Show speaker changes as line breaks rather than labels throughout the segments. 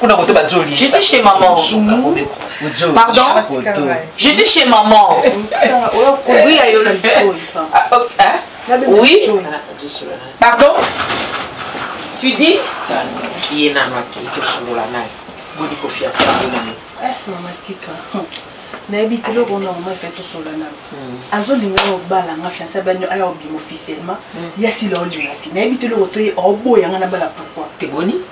kuna kote bazoli je
suis chez
maman pardon je suis chez maman oui ayo oui pardon tu dis ye nano ake tosolola naye boni
kofiasa mama tika nayebi te eloko na mama efe tosola na hmm. azolinga yo obala nga fiansa bani aya obima officiellement hmm. ya sila olinga te nayebi te eloko toye oboya nga na bala pourkoi te boni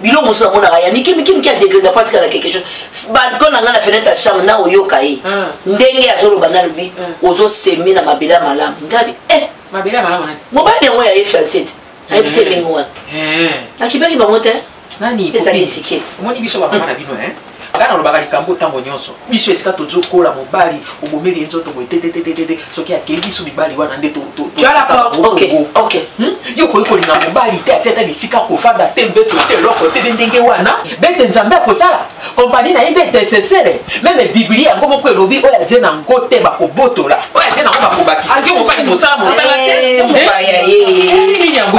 biloko mosusu namonaka ya mike mike mike ya degre na patika na quelque chose balcon na ngai na fenêtre ya chambre na oyoka ye hmm. ndenge azoloba na lobi hmm. ozosemi na mabele ya malamu ngabi eh.
mobali yango ya ye fiance
te ayebisi elengi wana nakibaki bango te ezali
etike nga nalobaka likambo ntango nyonso biso esika tozo kola mobali obomeli ye nzoto boye tetetetete soki akeyi biso mibali wana nde hmm? yo
okoki
kolinga mobali te atia ata bisika kofanda te mbeto te eloko te nde ndenge wana bete nzambe akosala kompani na ye nde etesesere meme biblia yango moko elobi oyo atie na ngo te bakobotola oyo atie na ngo bakobakisa yo mobali mosala mosala te
eh, eh, eh, nini yango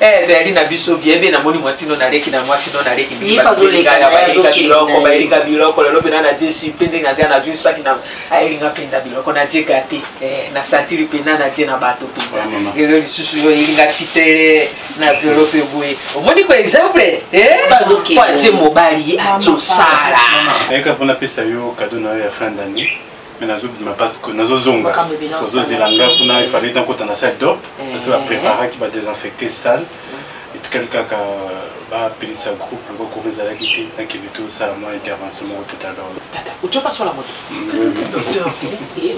Eh, tayali na biso bie be namoni mwasi no naleki na mwasi no naleki biloko bayelinga biloko lelo mpena na die supe ndenge nazia na zwi saki na ayelinga mpenza biloko na die gate eh, na santiri mpena na die na bato mpenza lelo lisusu yo elinga sitere na violo mpe boye omoni ko exemple kwa eh? tie mobali atosala mpona
pesa yo kado na yo ya fin d'année mais nazo bima parce que nazo zonga nazo zela nga kuna il fallait nakota na salle d'op eh. parce que ba préparaki ba désinfecter salle mm. etikali kaka bapelisa groupe loko koko ezalaki te nakende tosala mwa intervention moko tout à l'heure tata otie opasola
moto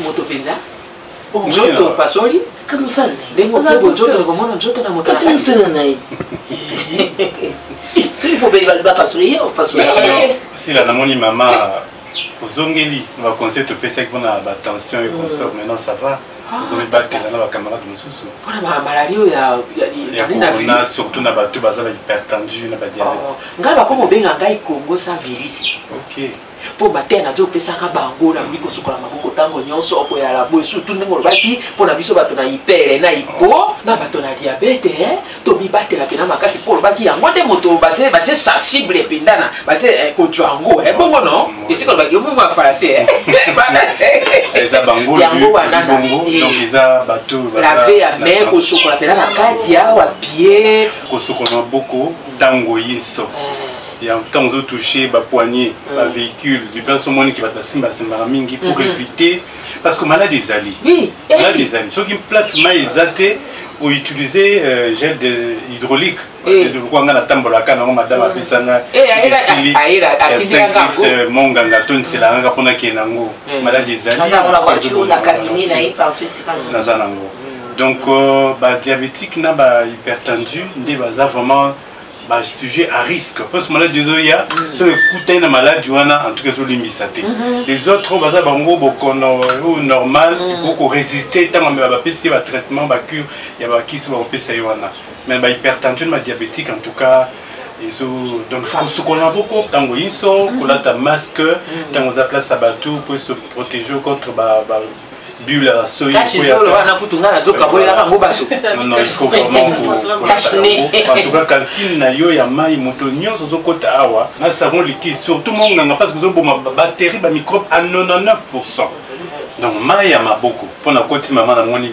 moto mpenza nzoto opasoli
ndenge okoki
bonzoto nakomona nzoto na
moto soki pobeli bapasoli ye opasoli sila
namoni mama ozongeli na baconseil topesaki mpona batension et consort maintenant ça va ozomibatela na bacamarade mosusu mpona bamaladi oyo
ya corona surtout na bato baza
bahypertendu na badiabete ngai bakoma obenga
ngai congo sa virus ok
mpo mateya na
opesaka bango na boyi kosukola maboko ntango nyonso okoyala boye surtout ndenge olobaki mpo na biso bato na ipele na ipo na bato na diabete tomibatela mpena makasi mpo olobaki yango nde moto batie batie sensible mpenza na batie eh, kojwa yango eh, bongo no mm. esika olobaki yo bongo ya falasai eh.
eza bango yango wana
eza
bato lave ya mai
kosokola mpena na kati ya wapie kosokola maboko
ntango yinso ya ntango ozotouche bapoignet bavéhicule mm. du place omoniki bato basimbasimbaka mingi pour mm-hmm. éviter parce que malade ezali oui. Eh. malade ezali
soki
place mai eza te outilize euh, gel de hydraulique eh. lokola ngai natambolaka nango madame eh. apesa nga esili euh, monganga to nsela ngaka mpo nakende yango malade ezali
naza nango
donc euh, badiabétique na bahypertendu nde baza vraiment ba sujet à risque parce maladie ezoya soki ekutani na maladi wana en tout cas ezolimbisa te mhm. les autres oyo baza bango bokono oyo normal ekoki mhm. koresiste ntango amela bapesi ye batraitement bacure ya bakisi bakopesa ye wana mais bahypertension badiabétique en tout cas ezo donc kosukolana boko ntango inso kolata masque ntango mhm. oza place ya bato mpo esoprotege contre bible ya soyi kashi zolo wana kutu
ngai nazoka boyelaka
yango bato antuka kantine na yo ya mai moto nyonso ozokota awa na savon liquide surtout monganga parce que ozoboma bactérie bamicrobe a 99 pourcent donc mai ya maboko mpo na koti mama namoni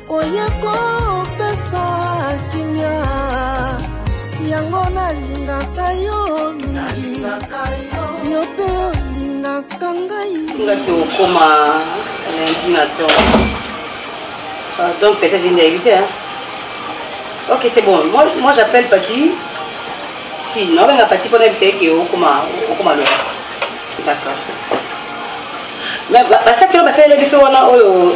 Oye kopesa kimia yango nalingaka yo mingi yo mpe olingaka ngai nga tokoma
lundi na to pardon peut-être inde ayebi te ok c'est bon moi, moi j'appelle pati fille naobenga pati mpona bifeke okoma okoma lola d'accord mais basakelo basalele biso wana oyo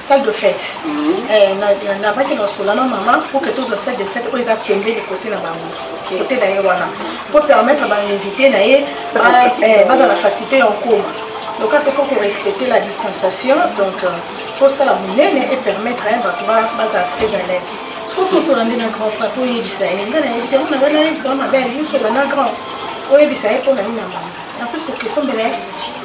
salle de fête nabaki na sola na mama po ke tozwa salle de fête oyo eza pembeni kote na bango kote na ye wana po permettre bainvité na ye baza na facilité ya nkoma donc kaka faut korespecter la distanciation donc fosala monene e permettre bato bazala très à l'aise sokosola nde na grand fa toyebisa ye nga nayebi te mona wana yebisa wa mabe aliyosola na grand oyebisa ye mpo na nini na mama na plus kokestion mbela ye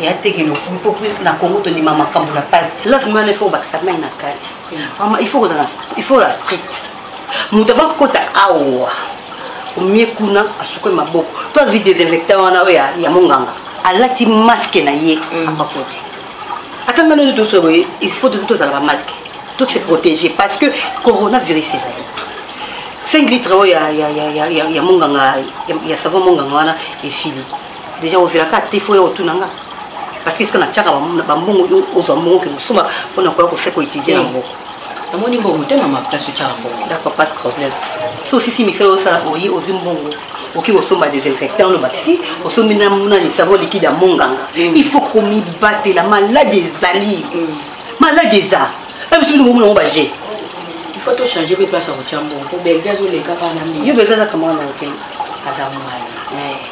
ya teke lokumu mpo na kongo tondima makambo na mpasi love mane fo obakisa mai na kati mama ifo kozala ifo kozala strict moto ava kota awa omie kuna asukoli maboko to azwi desinfecta wana oyo ya monganga alati maske na ye mm. apakoti ata ngai nani toso boye il faut toki tozala bamaske to se protéger parce que coronavirus ezali 5 litre oyo ya monganga ya savon monganga wana esili deja ozelaka te fo ya otuna nga parce que esika natiaka bambongo yo ozwa mbongo ke mosumba mpo na koya kose koetize na mboko namoni mbongo te
mama place otiaka mbongo d'accord pas de problème
so osisi misala osala oye ozwi mbongo okoki kosomba desinfectant oloba si osombi nani savo likide ya monganga mm. il faut komibatela maladi ezali mm. maladi eza na biso bino bomona yango baje faut to
changer pe place ya kotya mbongo po belge azoleka kaka na mbi yo belge azaka mwana na yo
te aza mwana eh.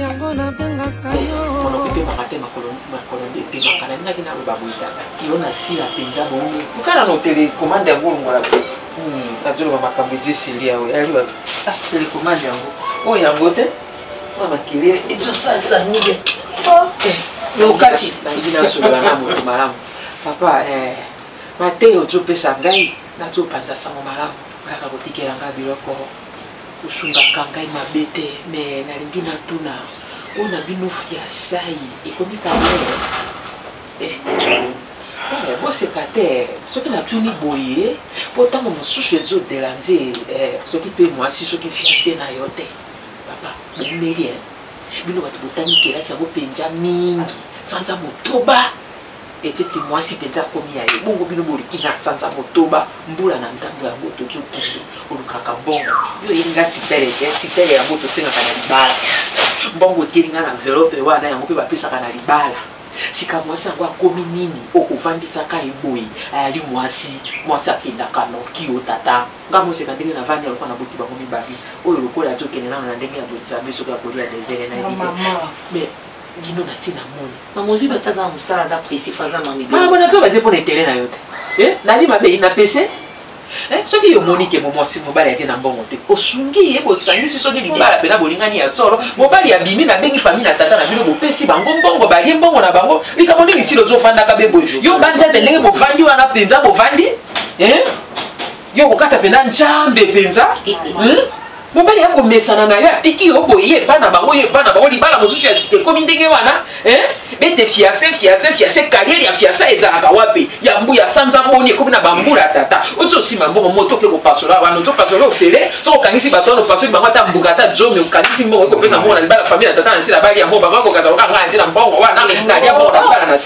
yango nabengaka yoyokobebaka te
makolo ebebaka nalingaki naloba boye tata yo nasila mpenza bongo okala notele komande yango olongola te nazoloba hmm, makambo edi esili yawe yali wapi ah, telekomande yango oyo oh, yango te oyo makelele ezosasa mige okati nangi nasolola na moto malamu papa eh, mateyo ozopesa ngai nazopanza sango malamu oyaka kotikela ngai biloko Osungaka ngai mabe te mais nalingi natuna oyo na bino fiasai ekomi kabele eh, eh, boseka te soki natuni boye mpo ntango mosusu ezodela nze eh, soki mpe mwasi soki fiase na yo te papa boumeli eh. bino bato botangi kelasi yango mpenza mingi sanza motoba ete te mwasi mpenza akomi ya ye bongo bino boliki na sanza motoba mbula na ntango yango tozokende olukaka mbongo yo oyebi nga sipele te sipele yango tosengaka na libala mbongo eteli nga na envelope wana yango mpe bapesaka na libala sika mwasi yango akomi nini okofandisaka ye boye ayali mwasi mwasi akendaka noki o tata nga moseka ndenge na vandi alokola na boti bango mibale oyo lokola azokende nano na ndenge ya botisabe soki akolia desele na ye mais Dino na si na moni. Maman Zubi ata aza na
mosala aza pressif aza mami. Mama bona to batie mpo na
intérêt na yo te. Eh, nali mabe ina pese. Eh, soki yo moni ke momwasi mobali atie na mbongo te osungi ye bosangisi soki libala mpena bolingani ya solo mobali abimi nabengi famille na tata na bino bopesi bango mbongo balie mbongo na bango likambo nini sila ozofandaka be boye yo banza te ndenge bovandi wana mpenza bovandi eh? yo kokata mpena njambe mpenza eh, eh. hmm? mobali ya komesana na yo atiki yo boye ye epa na bango ye epa na bango libala mosusu ya sika ekomi ndenge wana bete fiase fiase fiase kariere ya fiasa ezalaka wapi ya mbu ya sanza boni ekomi na bambula ya tata oti osima mbongo moto oke kopasola wana ozo pasola ofele soki okangisi bato wana opasoli bango ata mbuka ata zomi okangisi mbongo ekopesa mbongo na libala famille ya tata na nsi na bali yango bango akokazaloka ngai ntina mbongo wana nalia mbongo na libala na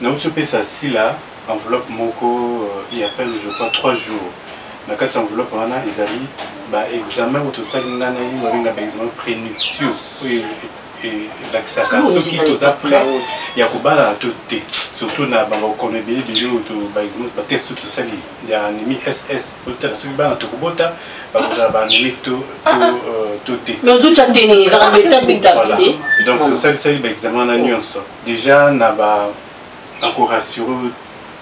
Nauti opesa Sila enveloppe moko il y a peine je crois trois jours. Na kati ya enveloppe wana ezali ba examen oyo tosali nga na ye babenga ba examen prenuptio oyo elakisaka soki toza prêt ya kobalana to te surtout na babokono ebele ebele oyo ba examen ba test oyo tosali ya anemi ss otala soki bana tokobota bakozala ba anemique to to te donc tosalisaki ba examen wana nyonso Dejà na ba na ko rassurer yo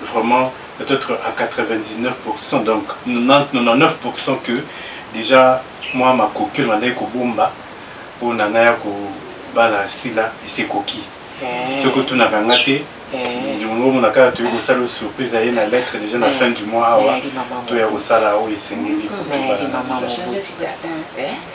vraiment peut etre à 99 pourcent donc 99 pourcent que dejà mua makoki oyo nabandaki kobomba pona naya ko bala Sila esi ekoki soki otunaka nga te yango omona kaka toyei kosala yo surprise aye na lettre dejà na fin du mois awa toya kosala oyo esengeli po tobala na dejà.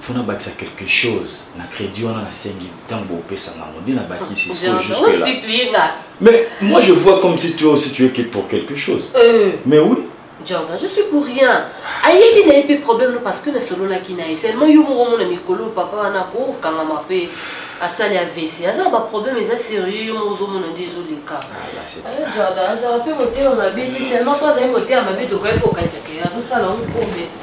faut nabakisa quelque chose na crédit wana nasengi ntango bopesanga yango nde nabakisi mais moi je vois comme si toi aussi tu es pour quelque chose euh. mais oui Jordan, je suis pour
rien. ayebi na ye mpe problème no parce que nasololaki na ye seulement yo moko omona mikolo papa wana akokangama mpe asali avc aza na baproblème eza sérieux yo moko ozomona nde ezoleka ah, eh, jordan azala mpe motema mabe te seulement so azali motema mabe tokoki kokanisa ke azosala ngo problème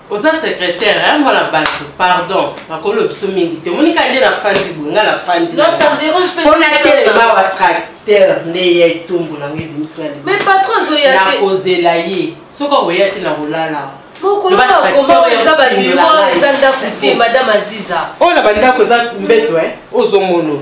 oza secrétaire hein mwana batu pardon makolo biso mingi te omoni ka nde na fandi boye nga na fandi mpo natelema wa tracteur nde ya etumbu nango ebimisi nakozela ye soki akoya te nakolala oyo na bandako eza mbeto ozomono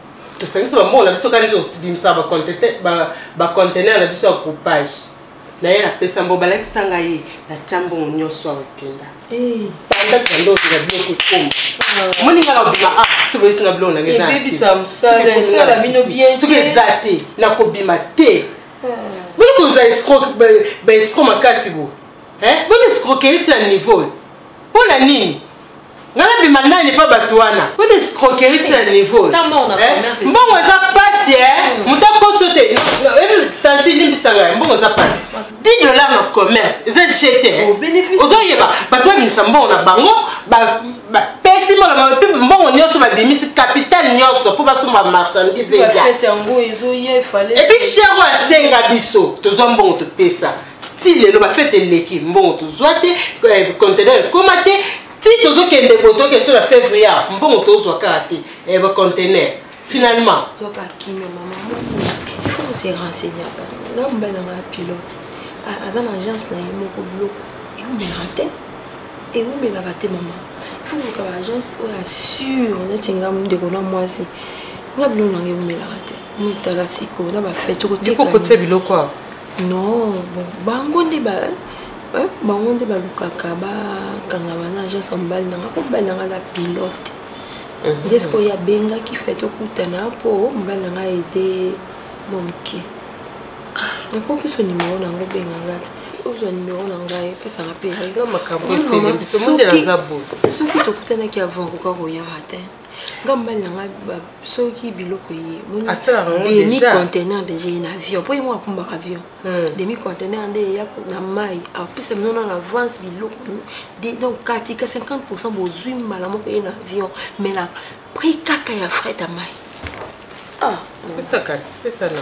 tosangisi bambongo na biso kani tobimisa bacontener na biso ya groupage na ye napesa mbo balakisa ngai ye natya mbongo nyonso awa ekenda eh. banda kanda ozela biloko ekoma ah. moni ngai nakobima a ah, soki boyesi nga biloko nange soki eza te nakobima te ah. boni kozala escroke baescro makasi bo boni escroquerie ti ya niveau mpo na nini nga nabima nani epa bato wana oyo escroquerie ti ya niveau mbongo eza pasi e moto akoso te tanti limbisa ngai mbongo eza pasi 10 dollar na commerce eza jete ozoyeba bato babimisa mbongo na bango bapesi mbongo nyonso babimisi capital nyonso mpo basomba marchandise epuis chero asenga biso tozwa mbongo topesa ti lelo bafete eleki mbongo tozwa te eh, conteneur ekoma te ti tozokende boye toyoki esola février ah, mbongo tozwa kaka te eh, baconteneur finalement se
renseigner nga mobali na nga ya pilote aza na agence na ye moko biloko eumelaka te eumelaka te mama ifo koluka baagence oyo assure neti nga ndeko na mwasi nga biloko na nga eumelaka te mitala sikoyo na bafete okoteka biloko
non
bon bango nde ba eh, bango nde balukaka bakanga bana agence ya mobali nanga mpo mobali nanga aza pilote mhm. nde sikoyo abengaki fe tokutana mpo mobali nanga ede mwa moke nakokiso nimero nango obenga nga te ozwa nimero na ngai pesanga mpe soki tokutanaki avant koka koyaka te nga mobali na nga soki biloko ye demi contener deja ye na avion mpo ye moko akumbaka avion hmm. demi contener nde eya na mai apesa bino na avance biloko donc katika 50 pourcent bozwi mbala moko ye na avion mais na prix kaka ya fret ya mai ah, pesa kasi
pesa na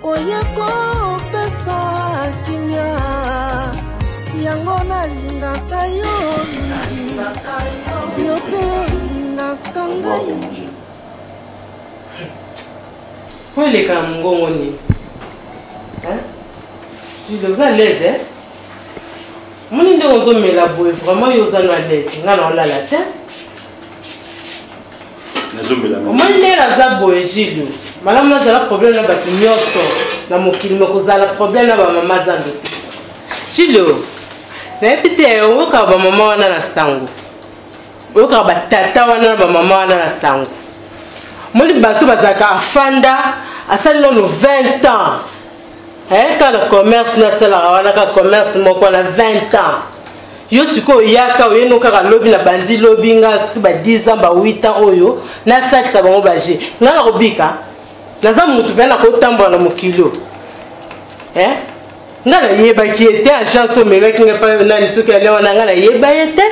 Oye kopesa kimia yango nalingaka yo mingi yo mpe olingaka ngai
mpo elekaka mongongo nini jude oza alaise eh? moni ndenge ozomela boye vraiment yo oza na alaise ngai na olala te omoni ndenge naza boye gilio malamu nazala problème na bato nyonso na mokili mekozala problème na bamama zambe te gilio nayebi te oyokaka bamama wana na sango oyokaka batata wana na bamama wana na sango omoni bato bazalaka afanda asali nano 20 ans eh, kaka commerce nasalaka wana kaka commerce moko na 20 ans yo sikoyo oyaka oyeno kaka lobi na bandi lobi nga soki ba 10 ans ba 8 ans oyo nasalisa bango baje nga nakobika naza motu mpe nakotambola na mokili oyo eh? nga nayebaki ye te agence omemaki nga epai nani soki ale wana nga nayeba ye te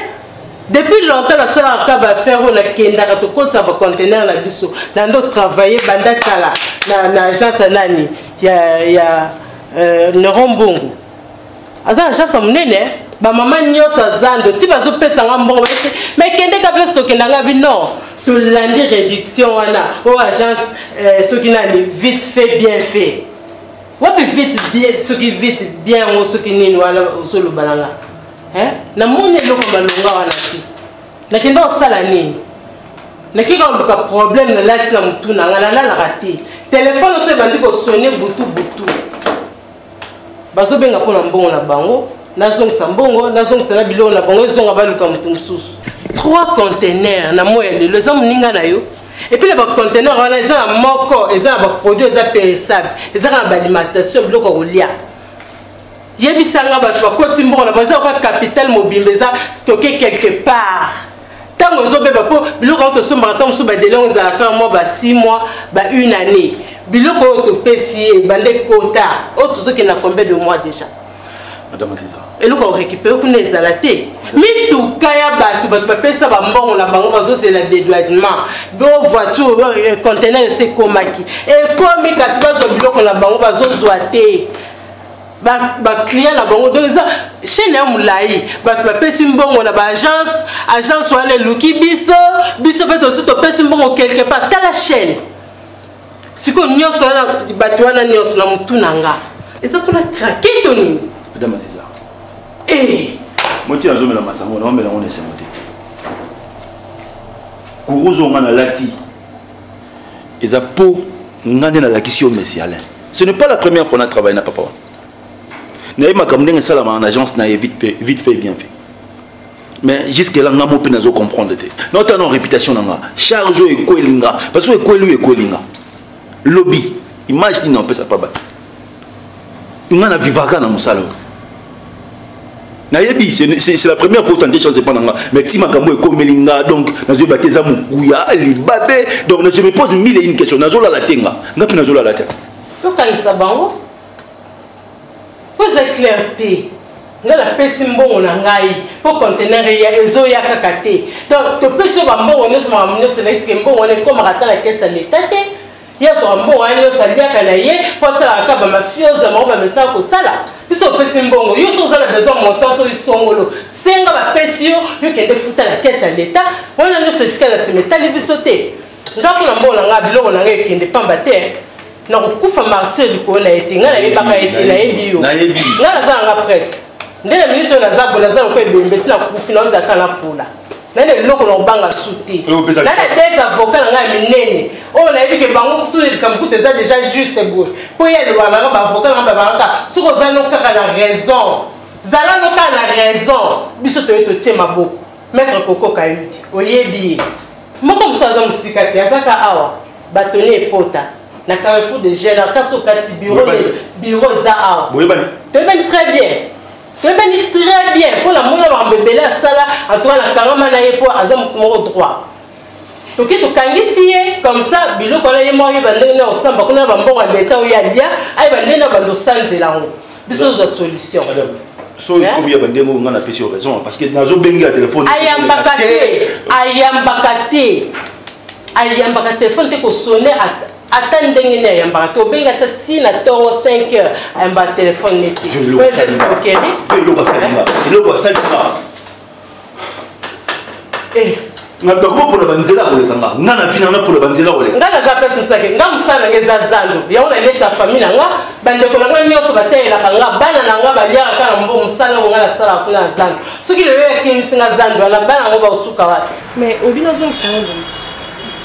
Depuis longtemps na sala ka ba affaire oyo nakendaka tokotisa ba conteneur na biso na ndo travailler banda kala na, na agence ya nani ya, ya euh, Laurent Mbongo aza agence ya monene bamama nyonso aza ndo ti bazopesa nga mbongo basi mai kendeka place tokenda nga bi non tolandi réduction wana oyo agence euh, soki nani vite fait bien fait wapi vite soki vite bien yango soki nini wana ozolobala nga eh na moni eloko malonga wana te nakenda kosala nini nakei kaka luka problème nalati na motu na ngai nalalaka te telefone oso ebandi kosone butu butu bazobenga mpo na mbongo na bango nazongisa mbongo nazongisa na biloko na bango ezonga baluka motu mosusu trois contenaire na moi ya lelo eza moninga na yo epuis na bacontenaire wana eza na moko eza na baproduit eza peresable eza kaka na baalimentation biloko ya kolia yebisa nga bato bakoti mbongo na baza kwa capital mobimba eza stocke quelque part ntango ezobeba mpo biloko yango tosombaka ntango mosusu badele yango ezalaka mwa ba 6 mois ba une année biloko oyo topesi ye ebanda ekota oyo tozokenda combien de mois déjà madame aziza
eloko ya korekipere
kuna ezala te mituka ya bato bato bapesa bambongo na bango bazozela dedouanement bo voiture eh, contener esi ekomaki ekomi kasi bazwa biloko na bango bazozwa te baclient na bango donc eza chaine ya molai bato bapesi mbongo na baagence agence wana eluki biso biso mpe tosi topesi mbongo quelque part tala chaine sikoyo nyonso wana bato wana nyonso na motu na nga eza mpona krake to nini
eh.
moti
nazomela masango naomela yango na esengo te kuruzo nga nalati eza po nga nde nalakisi yo messi alain ce n'est pas la première fois na travaille na papa wana naye makambo ndenge esalama na agence na ye vite fait, vite fait bien fait mais jusque là nga mo mpe nazo comprendre te naota na réputation na nga charge oyo ekweli nga parce que ekweli oyo ekweli nga lobi image nini opesa pa bato nga na vivaka na mosala oyo nayebi c'est la première fois otande chance epa na nga mais ti makambo ekomeli nga donc nazoyeba te eza mokuya libabe donc je me pose mille et une question nazolala te nga nga mpe nazolala te tokanisa
bango mpo eza claire te nga napesi mbongo na ngai mpo contener eya ezoya kaka te donc topesi yo bambongo nyonso makambo nyonso naisike mbongo wana ekomaka ata na kesi ya leta te ye azwaka mbongo wana nyonso aliaka na ye mpo asalaka kaka bamafiose na bango bamesaka kosala biso opesi mbongo yo so oza na besoin montant so isongolo senga bapesi yo yo kende futa na kese ya leta wana nyonso etika na nsima etali biso te nga mpo na mbongo na ngai biloko na ngai ekende pamba te nakokufa martire likolo na ye te ngai nayebaka ye te nayebi yo ngai naza na nga prete nde na ministre oyo naza boye naza lokola ebembe si nakufi naozalaka na pola nani eloko na kobanga su te nani adete avoka na ngai ya minene oyo oh, nayebi ke bango su likambo kuta eza déjà juste boye mpo ye aloba nanga baavoka nanga babangaka soki oza no kaka na raison zala no kaka na raison biso toye totie maboko maître kokoka yudi oyebi ye moko mosusu aza mosika te azaka awa bato ne epota na carrefour de gène kasi okati biro eza awa toyebani très bien toyebani très bien mpo namona makambo ebele asala atoka na kangama na ye mpo aza motu moko droit toki tokangisi ye comme ça biloko wana ye moko ayeba ndenge na osamba kuna na bambongo ya leta oyo alia ayeba ndenge na bando osanzela yango biso tozwa solution soki hein?
ekomi ya bandenge oyo ngai napesi yo raison parce que nazobenge ya telefone ayambaka te ayambaka te
ayambaka telefone te kosone ata ndenge nini ayambaka te obengi ata ti na ntongo 5 heures ayambaka telefone neti
eloko asalima nakoma mpona banzela koleka nga nga na vina na mpona banzela koleka nga naza place mosusu ake
nga mosala nanga eza zando yango nalesa fami na nga bandeko na nga nyonso bateyelaka nga bana na nga baliaka kaka mbo mosala yango nga nasalaka kuna na zando soki lelo yakimisi nga zando wana bana yango baosuka wapi mais obino azongisa
yango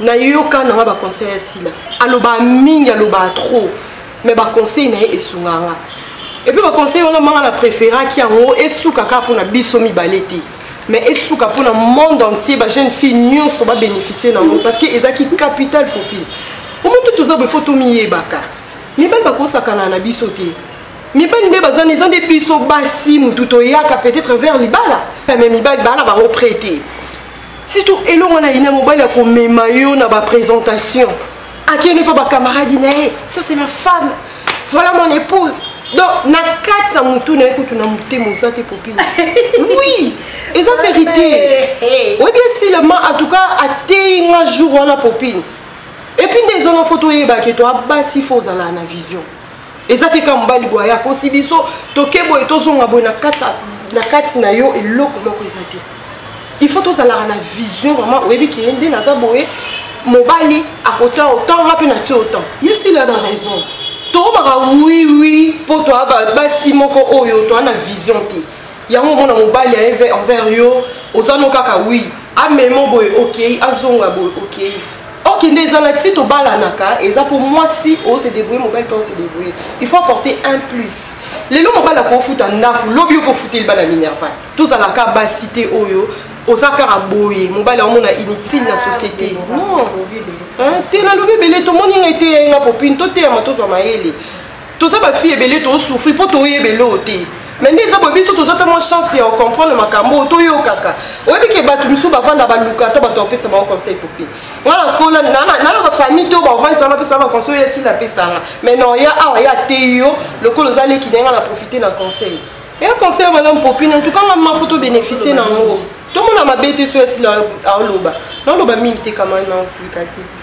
nayoka nanga baconseil ya sila alobaka mingi alobaka trop mais baconseil na ye esungaka nga epuis baconseil wana manga na préféraki yango esuka kaka mpona biso mibale te mais esuka mpona monde entier bajeune fille nyonso babénéficie na yango parce que ezalaki capital popile omoto toza boye fo tomiyebaka mibali bakosakana na biso te mibali nde baza eza nde biso basi motu toyaka peut-être vers libala mais mibali baa na bango prete surtout
elongo na ina mobali ya komema yo na bapresentation akende mpe bacamaradi na ye ça c'est ma femme voilà mon épouse donc na kati ya motu na ye kutu na motema oza te popile oui eza verité oyebi esilama en tout cas ateyi nga jour wana popine epuis nde eza na foto oyebaki to abasi fo ozala na vision eza te kaka mobali boye akosi biso toke boye tozonga boye na kati na yo eloko moko eza te il faut tozalaka na vision vraiment oyebi keye nde naza boye mobali akotia otan nga mpe natia otan yesila na raison tokomaka wiwi mpo toa basi moko oyo toa na vision te yango omona mobali ya eve envers yo oza no kaka wi amemo boye okei azonga boye okei ok nde eza na ti tobalanaka eza mpo mwasi ose debrouille mobali mpe ose debrouille il faut apporter un plus lelo mobali akofuta ndako lobi okofuteli bana minerva tozalaka basi te oyo oza kaka boye mobali aomona inutile na société non te nalobi ebele tomoni ngai te ya nga popine toteyama tozwa mayele toza ba fille ebele to souffrir po to yebe lo te mais nde eza boye biso toza ta mwa chance ya ocomprendre makambo oyo toyokaka oyebi ke bato mosusu bavanda baluka ata bato bapesa bango conseil pope nga nakola naloba famille to bavandisa bapesa ba conseil oyo esila apesanga mais non ya awa ya te yo lokola oza leki ndenge na profite na conseil ya conseil ya malamu popine en tout cas nga mafo to bénéficie na yango tomona mabe te so esila aoloba naoloba mingi te kama na osilika te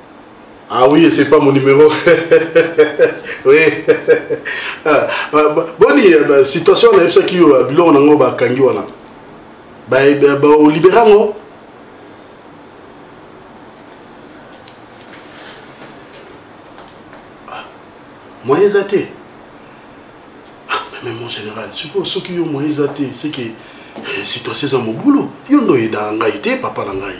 Ah oui, c'est pas mon numéro. oui. Ah, ah, boni eh ben, situation na yebisaki yo eh, biloko nango bakangi wana eh, olibera ngo ah, moyen eza te mais mon général sikoyo soki yo moyen eza te seke situation eza mobulu yo ndo oyedaka ngai te papa na ngai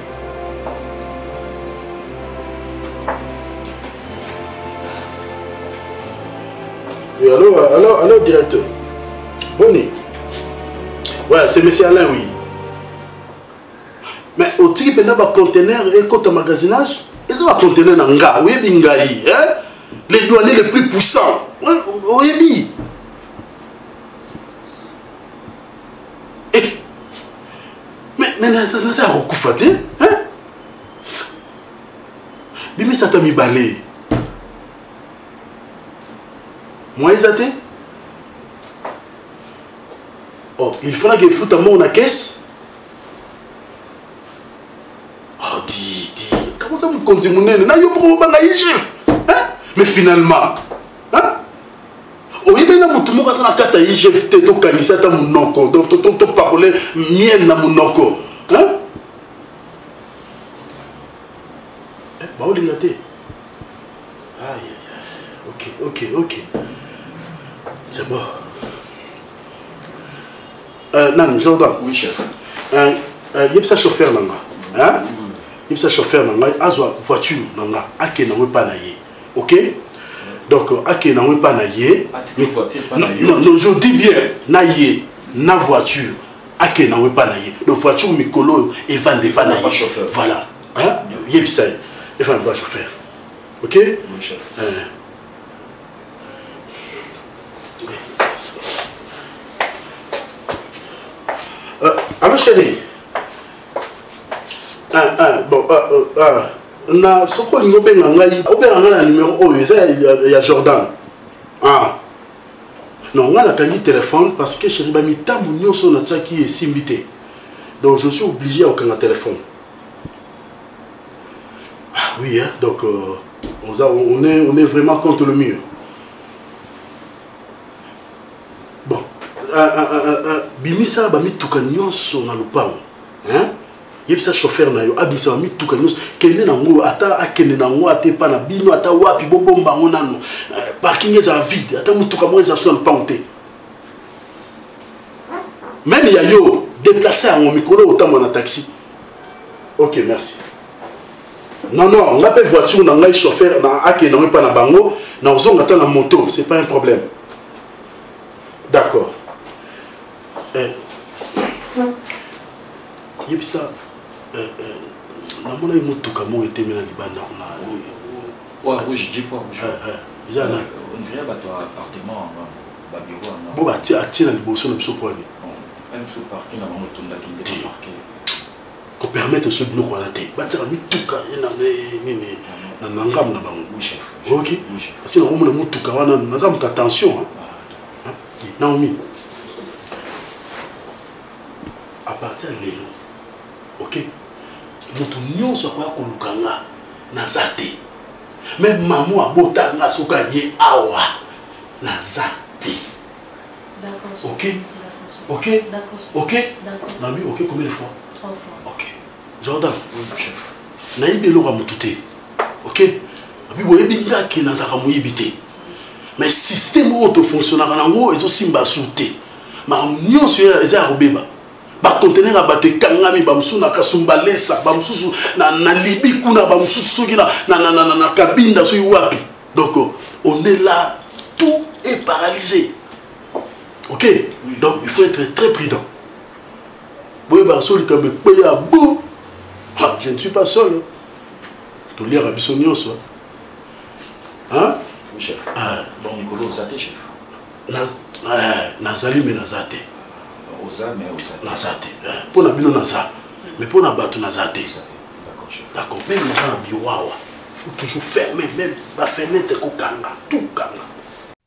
Oui, allô, allô, allô, directeur. Boni. Ouais, c'est monsieur Alain, oui. Mais otiki mpenza bacontener ekota magasinage eza bacontener na nga oyebi ngai le douanier le plus puissant oyebi mais naza ya kokufa te bimisa ata mibale mwa eza te oh, il falaki efuta moko na kese oh, di di kakoza mokonzi monene na yo moko obanga igf mais finalement oyebi na motu moko aza na kati ya igf te tokanisa ata monoko topakole miel na monoko eh, baolinga te ok ok ok c'est bon euh, nani jordan oui chef euh,
euh,
yebisa chauffeur na nga yebisa chauffeur na ngai azwa voiture na nga akenda ngo epai na ye ok donc akende nango epa na ye je dis bien na ye na voiture akende nango epa na ye donc voiture mikolo oyo evanda epa na ye voilà yebisa ye efanda ba chauffeur ok
euh,
allo chéri ah, ah, bon, ah, ah, ah. na soki olingi obenga ngai obenga ngai na numero oyo eza ya jordan ah. non ngai nakangi telefone parce que chéri bamitambo nyonso oyo natiaki esimbi te donc je suis obligé ya kokanga telefone ah oui hein? donc euh, on, a, on, est, on est vraiment contre le mur bon euh, euh, euh, euh bimisa bamituka nyonso na lopango hein? yebisa chauffeur na yo abimisa ba mituka nyonso kende nango ata akende nango ata epa na bino ata wapi bobomba yango nano eh, parking ezala vide ata motuka moko ezala so na lopango te meme ya yo deplace yango mikolo otambola na taxi ok merci non non nga mpe voiture na ngai chauffeur na akende nango epa na bango nakozonga ata na moto c'est pas un problème d'accord Eh, yebisa eh, eh, namonaki motuka moko etemela libanda kuna Poids rouge, dis poids rouge. Eh, eh, eza na On dirait bato ya appartement yango, ba bureau yango. bo batie atie na liboso na biso mpo ani Bon, même sous parquet na bango etondaki nde ba parquet. kopermettre so biloko wana te batiaka mituka ye na eh, nini na na ngambo na bango Oui, chef. oyoki Oui, chef. asi nakomona motuka wana naza moto ya tension hein. Naomi, à partir de lelo, ok, moto nyonso akoya koluka nga naza te. Meme mamu abota nga soki aye awa naza te. Ok, ok, ok, nalobi ok combien de fois? Trois fois. Ok, Jordan, oui, chef. nayebi eloko ya motu te ok abi boyebi nga ke nazalaka moyibi te mais système oyo tofonctionnaka nango ezosimba su te makambo nyonso eza ya kobeba bakontener ya bato ekangami bamosusu na kasumbalesa bamosusu na, na libi kuna bamosusu soki na, na, na, na, na, na kabinda soki wapi donc on est là tout est paralysé ok donc il faut être très prudent boyebaka so likambo ekweya bo je ne suis pas seul toliaka biso nyonso hein oui chef
hein bon mikolo ozate chef na euh, nazali
mais naza te oza mais
oza naza te
mpo na bino naza mais mpo na bato naza te d'accord meme naza na biwawa faut toujours fermer meme bafenêtre kokanga tout kanga